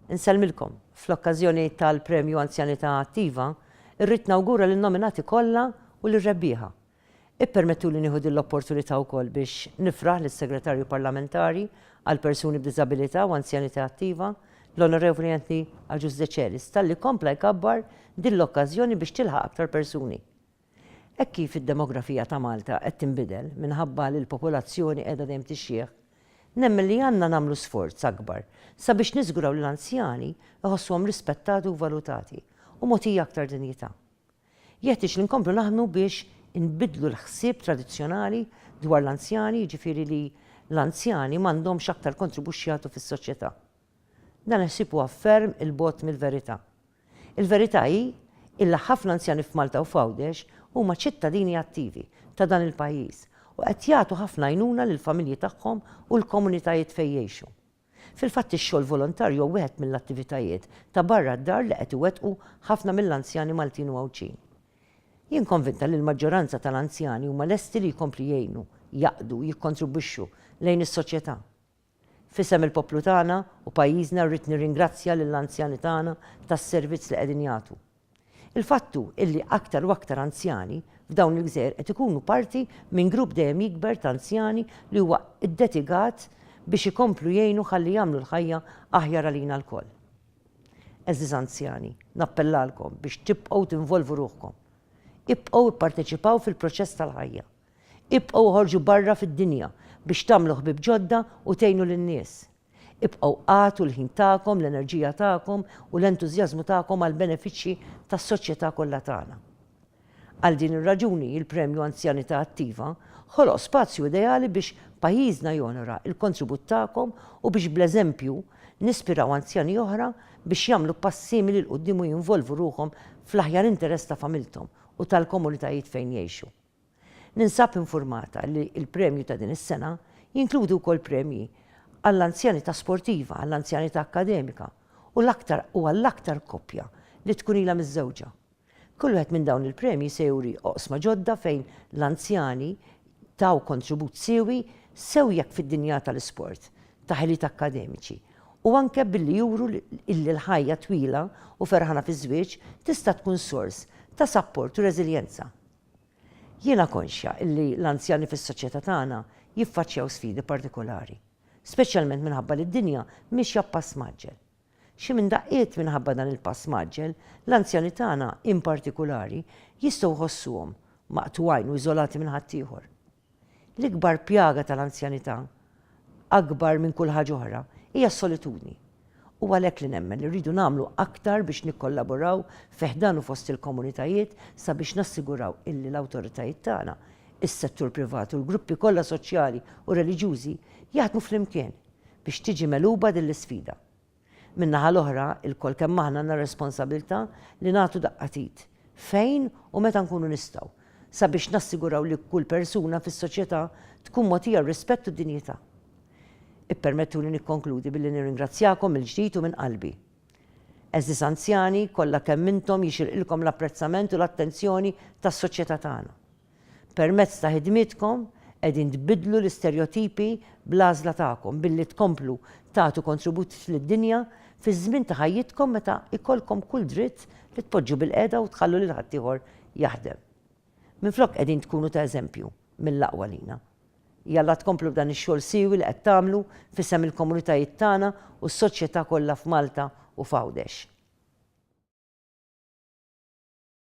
Insellmilkom, fl-okkażjoni tal-Premju Anzjanità Attiva, irrid nawgura lin-nominati kollha u lir-rebbieħa. Ippermettuli nieħu din l-opportunità wkoll biex nifraħ lis-Segretarju Parlamentari għall-Persuni b'Diżabilità u Anzjanità Attiva, l-Onorevoli Anthony Agius Decelis, talli kompla jkabbar din l-okkażjoni biex tilħaq aktar persuni. Hekk kif id-demografija ta' Malta qed tinbidel minħabba li l-popolazzjoni qiegħda dejjem tixjieħ, nemmen li għandna nagħmlu sforz akbar sabiex niżguraw li l-anzjani jħossuhom rispettati u valutati u mogħtija aktar dinjità. Jeħtieġ li nkomplu naħdmu biex inbiddlu l-ħsieb tradizzjonali dwar l-anzjani jiġifieri li l-anzjani m'għandhomx aktar kontribux x'jagħtu fis-soċjetà. Dan il-ħsieb huwa ferm 'il bogħod mill-verità. Il-verità hi illi ħafna anzjani f'Malta u f'Għawdex huma ċittadini attivi ta' dan il-pajjiż u qed jagħtu ħafna għajnuna lill-familji tagħhom u l-komunitajiet fejn jgħixu. Fil-fatt ix-xogħol volontarju huwa wieħed mill-attivitajiet ta' barra d-dar li qed iwettqu ħafna mill-anzjani Maltin u Għawdxin. Jien konvinta li l-maġġoranza tal-anzjani huma lesti li jkomplu jgħinu, jaqdu, jikkontribwixxu lejn is-soċjetà. F'isem il-poplu tagħna u pajjiżna rrid nirringrazzja lill-anzjani tagħna tas-servizz li qegħdin jagħtu. Il-fatt hu illi aktar u aktar anzjani f'dawn il-gżejjer qed ikunu parti minn grupp dejjem jikber ta' anzjani li huwa ddetigat biex ikomplu jgħinu ħalli jagħmlu l-ħajja aħjar għalina lkoll. Għeżież anzjani, nappellalkom biex tibqgħu tinvolvu ruħkom. Ibqgħu ipparteċipaw fil-proċess tal-ħajja. Ibqgħu oħorġu barra fid-dinja biex tagħmlu ħbieb ġodda u tgħinu lin-nies. Ibqgħu agħtu l-ħin tagħkom, l-enerġija tagħkom u l-entużjażmu tagħkom għall-benefiċċji tas-soċjetà kollha tagħna. Għal din ir-raġuni, il-Premju Anzjanità Attiva ħoloq spazju ideali biex pajjiżna jonora l-kontribut tagħkom u biex bl-eżempju nispiraw anzjani oħra biex jagħmlu pass simili 'l quddiem u jinvolvu ruħhom fl-aħjar interess ta' familthom u tal-komunitajiet fejn jgħixu. Ninsab infurmata li l-premju ta' din is-sena jinkludi wkoll premji għall-anzjanità sportiva, għall-anzjanità akkademika u l-aktar u għall-aktar koppja li tkun ilha miżżewġa. Kull wieħed minn dawn il-premji se juri oqsma ġodda fejn l-anzjani taw kontribut siewi sew jekk fid-dinja tal-isport, ta' ħiliet akkademiċi u anke billi juru illi l-ħajja twila u ferħana fiż-żwieġ tista' tkun sors ta' sapport u reżiljenza. Jiena konxja li l-anzjani fis-soċjetà tagħna jiffaċċjaw sfidi partikolari, speċjalment minħabba li d-dinja miexja b'pass mgħaġġel. Xi minn daqqiet minħabba dan il-pass mgħaġġel, l-anzjani tagħna, in partikulari, jistgħu jħossuhom maqtugħin u iżolati minn ħaddieħor. L-ikbar pjaga tal-anzjanità, akbar minn kull ħaġa oħra, hija s-solitudni. Hu għalhekk li nemmen li rridu nagħmlu aktar biex nikkollaboraw fi ħdan u fost il-komunitajiet sabiex nassiguraw illi l-awtoritajiet tagħna, is-settur privat u l-gruppi kollha soċjali u reliġjużi jaħdmu flimkien biex tiġi megħluba din l-isfida. Min-naħa l-oħra, ilkoll kemm aħna għandna r-responsabilità li nagħtu daqqa t'id, fejn u meta nkunu nistgħu, sabiex nassiguraw li kull persuna fis-soċjetà tkun mogħtija r-rispett u d-dinjità. Ippermettuli nikkonkludi billi nirringrazzjakom mill-ġdid u minn qalbi. Għeżież anzjani, kollha kemm intom jixirqilkom l-apprezzament u l-attenzjoni tas-soċjetà tagħna. Permezz ta' ħidmietkom qegħdin tbiddlu l-isterjotipi bl-għażla tagħkom billi tkomplu tagħtu kontribut lid-dinja fiż-żmien ta' ħajjitkom meta jkollkom kull dritt li tpoġġu bilqiegħda u tħallu lil ħaddieħor jaħdem. Minflok qegħdin tkunu ta' eżempju mill-aqwa lina. Jalla tkomplu b'dan ix-xogħol siewi li qed tagħmlu f'isem il-komunitajiet tagħna u s-soċjetà kollha f'Malta u f'Għawdex.